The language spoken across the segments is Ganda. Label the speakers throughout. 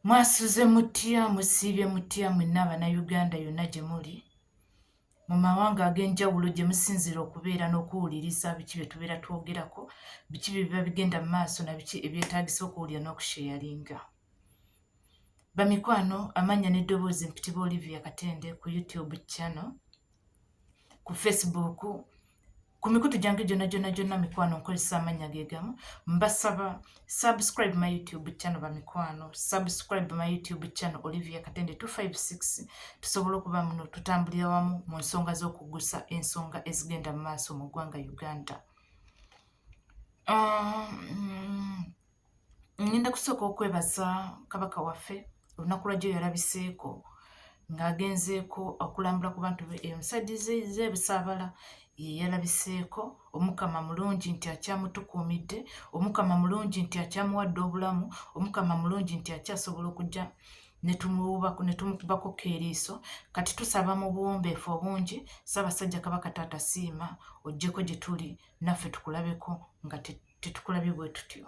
Speaker 1: Mwasuze mutya, musiibye mutya mwenna Bannayuganda yonna gye muli, mu mawanga ag'enjawulo gye musinziira okubeera n'okuwuliriza biki bye tubeera twogerako, biki bye biba bigenda mu maaso na biki ebyetaagisa okuwulira n'okusheyalinga. Bamikwano, amannya n'eddoboozi mpitibwa Olivia Katende ku YouTube channel. ku facebook ku mikutu gyange gyona gyona gyona mikwano nkozesa amannya ge gamu mbasaba subscribe my youtube channel bamikwano subscribe my youtube channel olivia katende 256 tusobola okuba muno tutambulira wamu mu nsonga z'okugusa ensonga ezigenda mu maaso mu ggwanga uganda um, ngenda kusooka okwebaza kabaka waffe olunaku lwajjo yalabiseeko ng'agenzeeko okulambula ku bantu be emusajja zebusaabala yeyalabiseeko omukama mulungi nti akyamutukuumidde omukama mulungi nti akyamuwadde obulamu omukama mulungi nti akyasobola okujja netumuwubako netumukubako keeriiso kati tusaba mu buwombeefu obungi ssaabasajja kabaka taata siima ojjeko gye tuli naffe tukulabeko nga tetukulabye bwe tutyo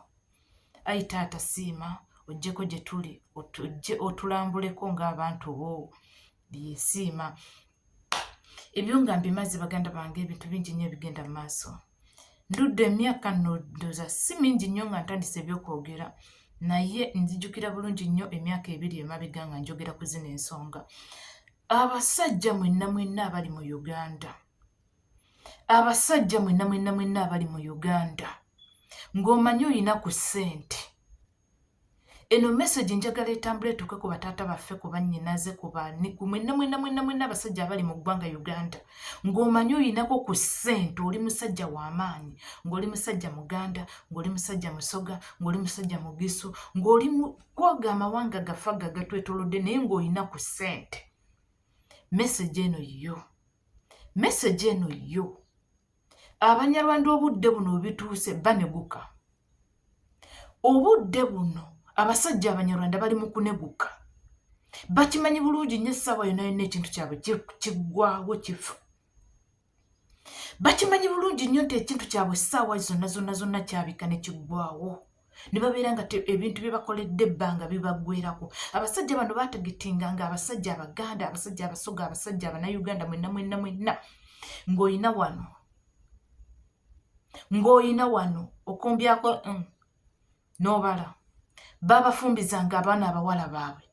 Speaker 1: ayi taata siima ojjeko gye tuli ojje otulambuleko ng'abantu bo byesiima ebyo nga mbimaze baganda bange ebintu bingi nnyo ebigenda mu maaso ndudde emyaka ndoza si mingi nnyo nga ntandise ebyokwogera naye nzijukira bulungi nnyo emyaka ebiri emabega nga njogera ku zino ensonga abasajja mwenna mwenna abali mu uganda abasajja mwenna mwenna mwenna abali mu uganda ng'omanyi olina ku ssente eno message njagala etambula etuuke ku bataata baffe ku bannyinaze ku baani ku mwenna mwenna mwenna mwenna abasajja abali mu ggwanga uganda ng'omanyi olinako ku ssente oli musajja w'amaanyi ng'oli musajja muganda ng'oli musajja musoga ng'oli musajja mugisu ng'oli kwoga amawanga gafa gagatwetolodde naye ng'olina ku ssente message eno yiyo message eno yo abanyarwanda obudde buno webituuse baneguka obudde buno abasajja abanyarwanda bali mu kuneguka bakimanyi bulungi nyo essaawa yona yonna ekintu kyabwe kiggwawo kifu bakimanyi bulungi nnyo nti ekintu kyabwe essaawa zonna zonna zonna kyabika ne kiggwawo ne babeera nga ebintu bye bakoledde ebbanga bibaggwerako abasajja bano baatagetinga nga abasajja abaganda abasajja abasoga abasajja abanauganda mwenna mwenna mwenna ng'olina wano ng'olina wano okombyako mm, n'obala baabafumbizanga abaana abawala baabwe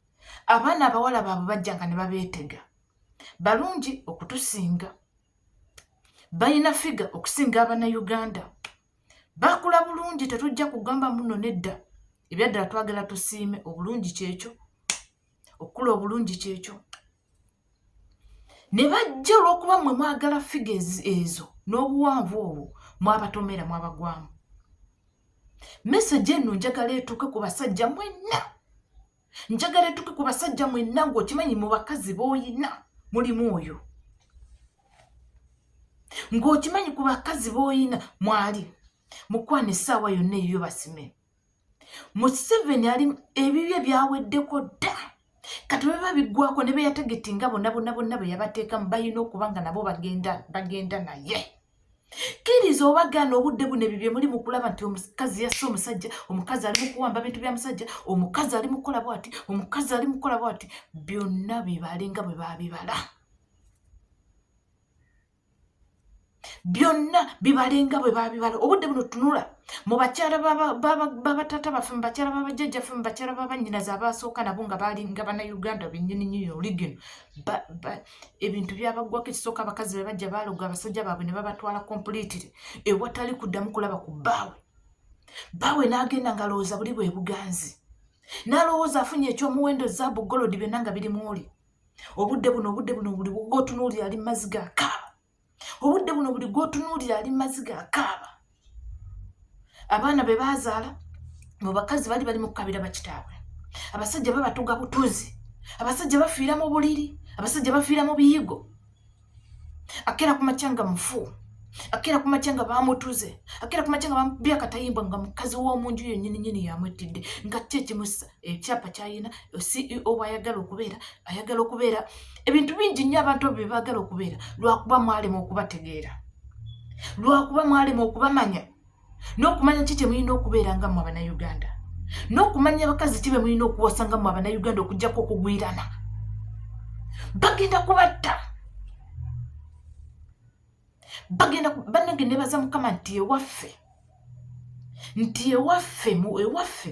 Speaker 1: abaana abawala baabwe bajjanga ne babeetega balungi okutusinga balina figa okusinga abanauganda bakula bulungi tetujja kugamba muno nedda ebyaddala twagala tusiime obulungi kyekyo okukula obulungi kyekyo ne bajja olwokuba mwe mwagala figa ezo n'obuwanvu obwo mwabatomera mwabagwamu mesegi eno njagala etuuke ku basajja mwenna njagala etuke ku basajja mwenna ngaokimanyi mu bakazi boyina mulimu oyo ngaokimanyi ku bakazi boyina mwali mukwana essaawa yonna eyiyo basime museveni ali ebibye byaweddeko dda kati bweba biggwako ne beyategeti nga bonna bonna bonna bwe yabateekamu balina okuba nga nabo bagenda bagenda naye kkiriza oba gaana obudde buno ebyo byemuli mu kulaba nti omukazi yassa omusajja omukazi ali mu kuwamba bintu bya musajja omukazi ali mukukola bwati omukazi ali mukukola bwati byonna bibale nga bwe babibala byonna bibale nga bwe babibala obudde buno tunula mu bakyala babatata baffe mu bakyala babajjajjaffe mu bakyala babanyinazi abaasooka nabo nga balinga banauganda benyini nyini oligino ebintu byabaggwako ekisooka abakazi be bajja baaloga abasajja baabwe ne babatwala kompulitire ewatali kuddamu kulaba ku bbaawe bbaawe n'agenda ng'alowooza buli bwe buganzi n'alowooza afunye ekyomuwendo zaabu golodi byonna nga biri mwoli obudde buno obudde buno buli wotunuuli ali mazi gakaaba obudde buno buli gwotunuulira ali maziga akaaba abaana be baazaala mu bakazi bali bali mukukabira bakitaabwe abasajja babatuga butuzi abasajja bafiira mu buliri abasajja bafiira mu biyigo akeera ku makya nga mufu akeera ku makya nga bamutuze akeera ku makya nga bamubye akatayimba nga mukazi w'omunju yonyininyini yamwettidde nga kyekimusa ekyapa kyalina ceo bwayagala okubeera ayagala okubeera ebintu bingi nnyo abantu abo byebaagala okubeera lwakuba mwalema okubategeera lwakuba mwalema okubamanya n'okumanya ki kyemulina okubeera nga mwe abanauganda n'okumanya abakazi ki bemulina okuwasa nga mwe abanauganda okujjako okugwirana bagenda kubatta bagenda banange nebaza mukama nti ewaffe nti ewaffe ewaffe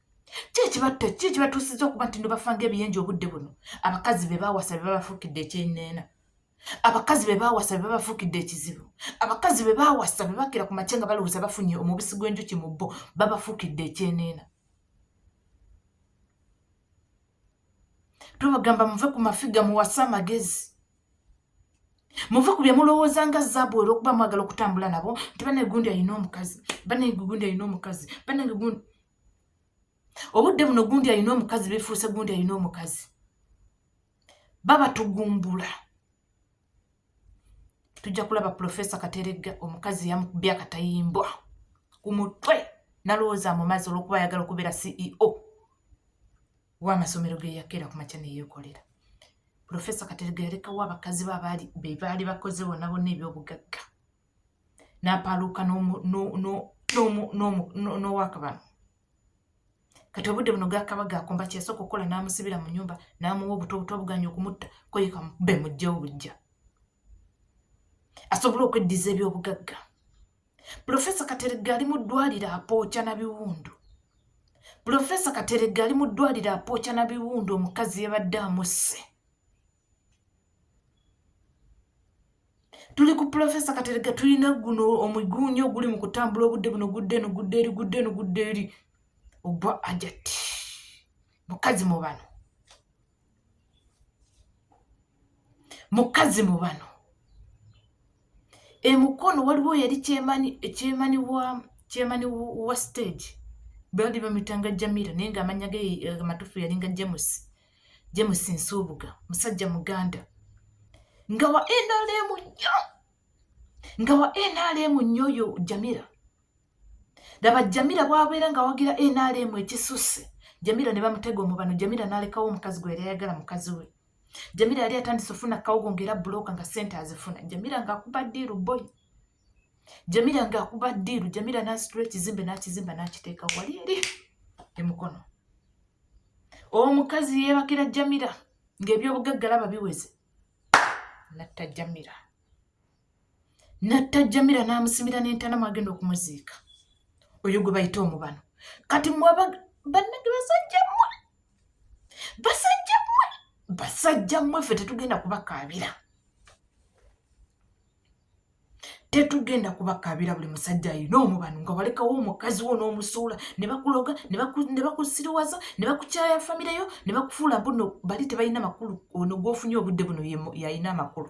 Speaker 1: kyekibatta ki ekibatuusizza okuba nti nobafanga ebiyenja obudde buno abakazi be baawasa be babafuukidde ekyeneena abakazi be baawasa be babafuukidde ekizibu abakazi be baawasa be bakira ku makye nga balowooza bafunye omubisi gw'enjuki mu bo babafuukidde ekyeneena tubagamba muve ku mafiga muwase amagezi muve ku bye mulowooza nga zaabu era okuba mwagala okutambula nabo nti banange gundi alina omukazi banange gundi alina omukazi banange gundi obudde buno gundi alina omukazi befuuse gundi alina omukazi babatugumbula tujja kulaba pulofesa kateregga omukazi yamukubye akatayimbwa ku mutwe nalowooza amumazi olwokuba ayagala okubeera ceo w'amasomero ge yakeera ku makya ne yeekolera pulofesa katerega yalekawo abakazi be abaali be baali bakoze bona bonna ebyobugagga n'apaaluuka n'owakabano kati obudde buno gakaba gakomba kyesooka okukola n'amusibira mu nyumba n'amuwa obuto obuto obuganya okumutta koyeka be mujja obujja asobole okweddiza ebyobugagga pulofesa kateregga ali mu ddwaliro apooca na biwundu pulofesa kateregga ali mu ddwaliro apooca na biwundu omukazi yabadde amusse tuli ku pulofesa kateregga tulina guno omuguunyi oguli mu kutambula obudde buno gudde eno gudde eri gudde eno gudde eri ogwa ajati mukazi mu bano mukazi mu bano emukono waliwo yali kyemani wa kyemani wa stage bali bamuyitanga jamira naye nga amanya ge eh, amatufu yalinga james james nsuubuga musajja muganda nga wa nrm nyo nga wa nrm nyo oyo jamira laba jamira bwabeera nga wagira nrm ekisusse jamira ne bamutega omubano jamira nalekawo omukazi gwe era yayagala mukazi we jamira yali atandise ofuna kawogo ngaera buloka nga sente azifuna jamira ngaakuba diiru boy jamira ngaakuba diiru jamira nasitula ekizimbe nakizimba nakiteeka wali eri emukono omukazi yeebakira jamira ngaebyobugaggalaba biweze natta jamira natta jamira n'amusimira n'entana mwagenda okumuziika oyo gwe bayita omubano kati mwaba bannage basajja mmwe basajja mmwe basajja mmwe ffe tetugenda kubakaabira tetugenda kubakaabira buli musajja ayina omubano nga walekawo omukazi wo n'omusuula ne bakuloga ne bakusiriwaza ne bakukyaya famireyo ne bakufuula mbuno bali tebalina makulu ono gwofunye obudde buno yayina amakulu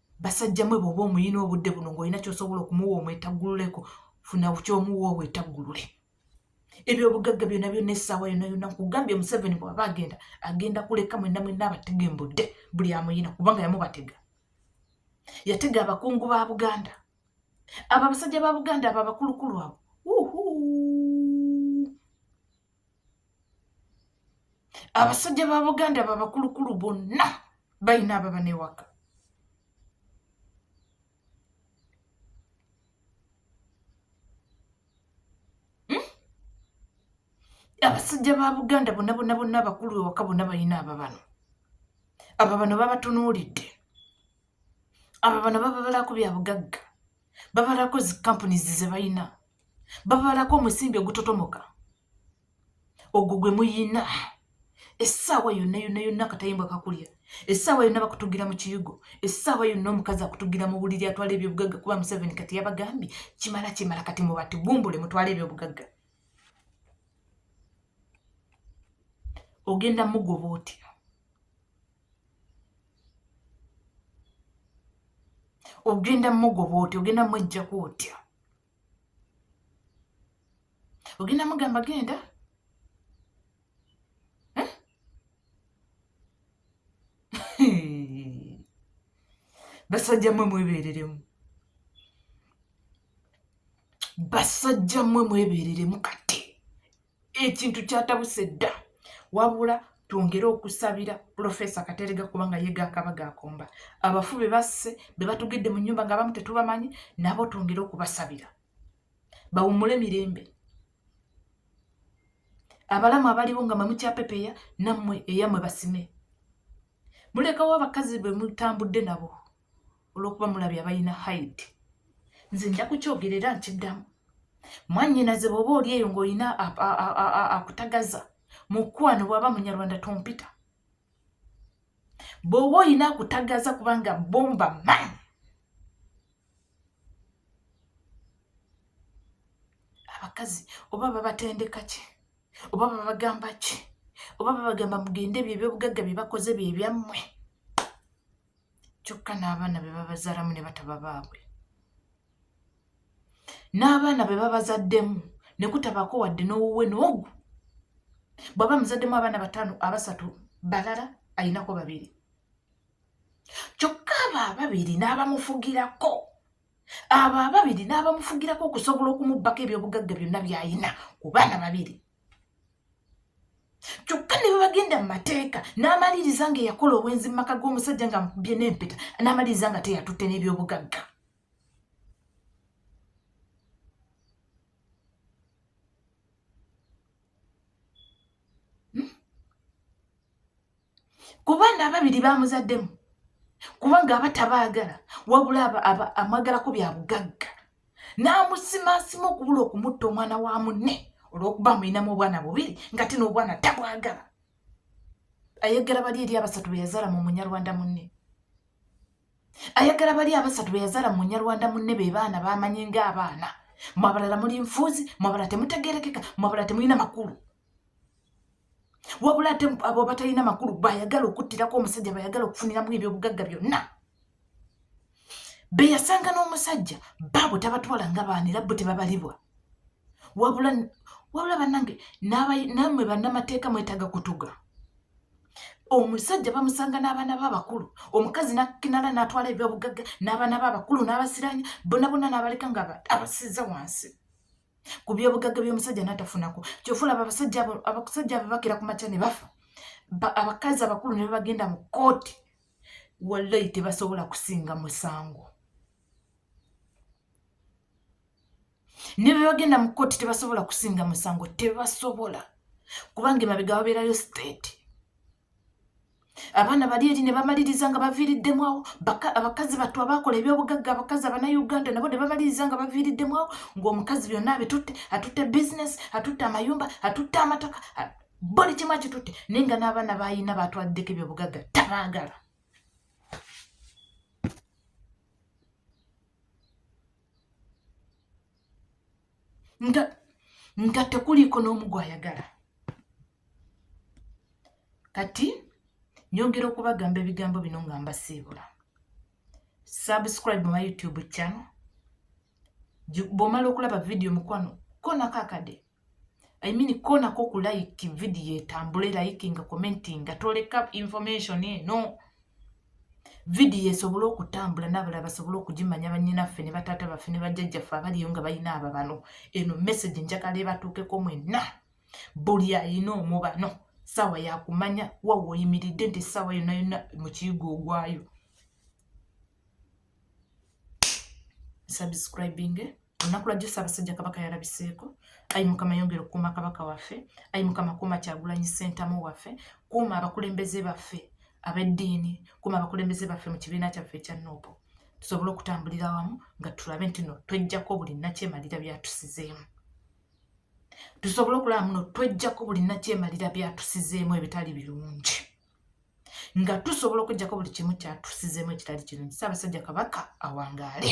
Speaker 1: basajja mwe bwoba omuyina obudde buno ngaolina kyosobola okumuwa omwetaggululeko funa kyomuwa obwetaggulule ebyobugagga byona byona essaawa yona yona nkugambye museveni bwaba agenda agenda kuleka mwena mwena abatega embudde buli amuyina kubanga yamubatega yatega abakungu ba buganda abo abasajja ba buganda abo abakulukulu abo abasajja ba buganda babakulukulu bonna balina ababa newaka hmm? abasajja ba buganda bonna bonna bonna abakulu ewaka bonna balina ababano aba bano babatunuulidde aba bano bababalako bya bugagga babalako zikampunizi ze balina babalako omusimbi ogutotomoka ogwo gwe muyina essaawa yonna yonna yonna akatayimbwa kakulya essaawa yonna bakutugira mu kiyugo essaawa yonna omukazi akutugira mu buliri atwala ebyobugagga kuba museveni kati yabagambye kimala kimala kati mubati bumbule mutwale ebyobugagga ogenda mugoba otya ogenda mugoba otya ogenda mwejjaku otya ogenda mugamba genda eh? basajja mwe mwebereremu basajja mwe mwebereremu kati ekintu kyatabuse dda wabula twongere okusabira pulofesa katerega kubanga ye gakaba gakomba abafu be basse be batugidde mu nyumba nga abamu tetubamanyi nabo twongere okubasabira bawumule mirembe abalamu abaliwo nga mamukyapepeya nammwe eyamwe basime mulekawo abakazi bwe mutambudde nabo olwokuba mulabye abalina haidi nze nja kukyogera era nkiddamu mwanyinaze bwoba oli eyo ngaolina akutagaza mukwano bwaba munyarwanda tompita bwoba olina akutagaza kubanga bomba man abakazi oba babatendeka ki oba babagamba ki oba babagamba mugende ebyo ebyobugagga byebakoze byebyammwe kyokka n'abaana be babazaalamu ne bataba baabwe n'abaana be babazaddemu ne kutabaako wadde n'owuwe n'ogu bw'aba muzaddemu abaana bataano abasatu balala alinako babiri kyokka abo ababiri n'abamufugirako abo ababiri n'abamufugirako okusobola okumubbako ebyobugagga byonna by'alina ku baana babiri kyokka ne bwebagenda mu mateeka n'amaliriza nga eyakola obwenzi mu maka g'omusajja nga mukubye n'empeta n'amaliriza nga teyatutte n'ebyobugagga ku baana ababiri bamuzaddemu kubanga aba tabaagala wabula amwagalako bya bugagga n'amusimaasima okubula okumutta omwana wa munne olw'okuba amulinamu obwana bubiri nga ti n'obwana tabwagala ayagala bali eri abasatu be yazaala mu munyarwanda munne ayagala bali abasatu be yazaala mu munyarwanda munne be baana bamanye ng'abaana mwabalala muli nfuuzi mwabala temutegerekeka mwabala temulina makulu wabula ate abo abatalina makulu bayagala okuttirako omusajja bayagala okufuniramu ebyobugagga byonna beyasanga n'omusajja baabo tabatwala nga baana era bo tebabalibwa wabula wabula banange namwe bannamateeka mwetaaga kutuga omusajja bamusanga n'abaana be abakulu omukazi nakinala n'atwala ebyobugagga n'abaana be abakulu n'abasiranya bonabona n'abaleka nga abasiza wansi ku byobugagga by'omusajja natafunako kyofulaba abasajja abasajja abo bakira ku makya ne bafa abakazi abakulu ne babagenda mu kooti wallayi tebasobola kusinga musango ne bebagenda mu kooti tebasobola kusinga musango tebasobola kubanga emabega babeerayo state abaana bali eri ne bamaliriza nga baviiriddemu awo abakazi battu abaakola ebyobugagga abakazi abanauganda nabo ne bamaliriza nga baviiriddemu awo ng'omukazi byonna abitutte atutte bizinesi atutte amayumba atutte amataka buli kimu akitutte naye nga n'abaana baalina baatwaliddeko ebyobugagga tabaagala nga nga tekuliiko n'omu gwayagala kati nyongera okubagamba ebigambo bino nga mbasiibula subscribe my youtube channel bwomala okulaba vidiyo mukwano konako akade i mean konako ku like vidiyo etambule likinga commentinga toleka information eno vidiyo esobole okutambula n'abalala basobole okugimanya bannyinaffe ne bataata baffe ne bajjajjaffe abaliyo nga balina ababano eno mesagi njagala ebatuukeko mwenna buli ayina omubano saawa yakumanya wawa oyimiridde nti saawa yonna yonna mukiyigo ogwayo subscribing olunaku lwajjo ssaabasajja kabaka yalabiseeko ayi mukama yongera okukuuma kabaka waffe ayi mukama kuuma kyagulanyi ssentamu waffe kuuma abakulembeze baffe ab'eddiini kuuma abakulembeze baffe mu kibiina kyaffe ekya noopo tusobole okutambulira wamu nga tulabe nti no twejjako buli nakyemalira byatusizeemu tusobole okulaba muno twejjako buli nakyemalira byatusizeemu ebitali birungi nga tusobola okujjako buli kimu kyatusizemu ekitali kirungi ssaabasajja kabaka awangaale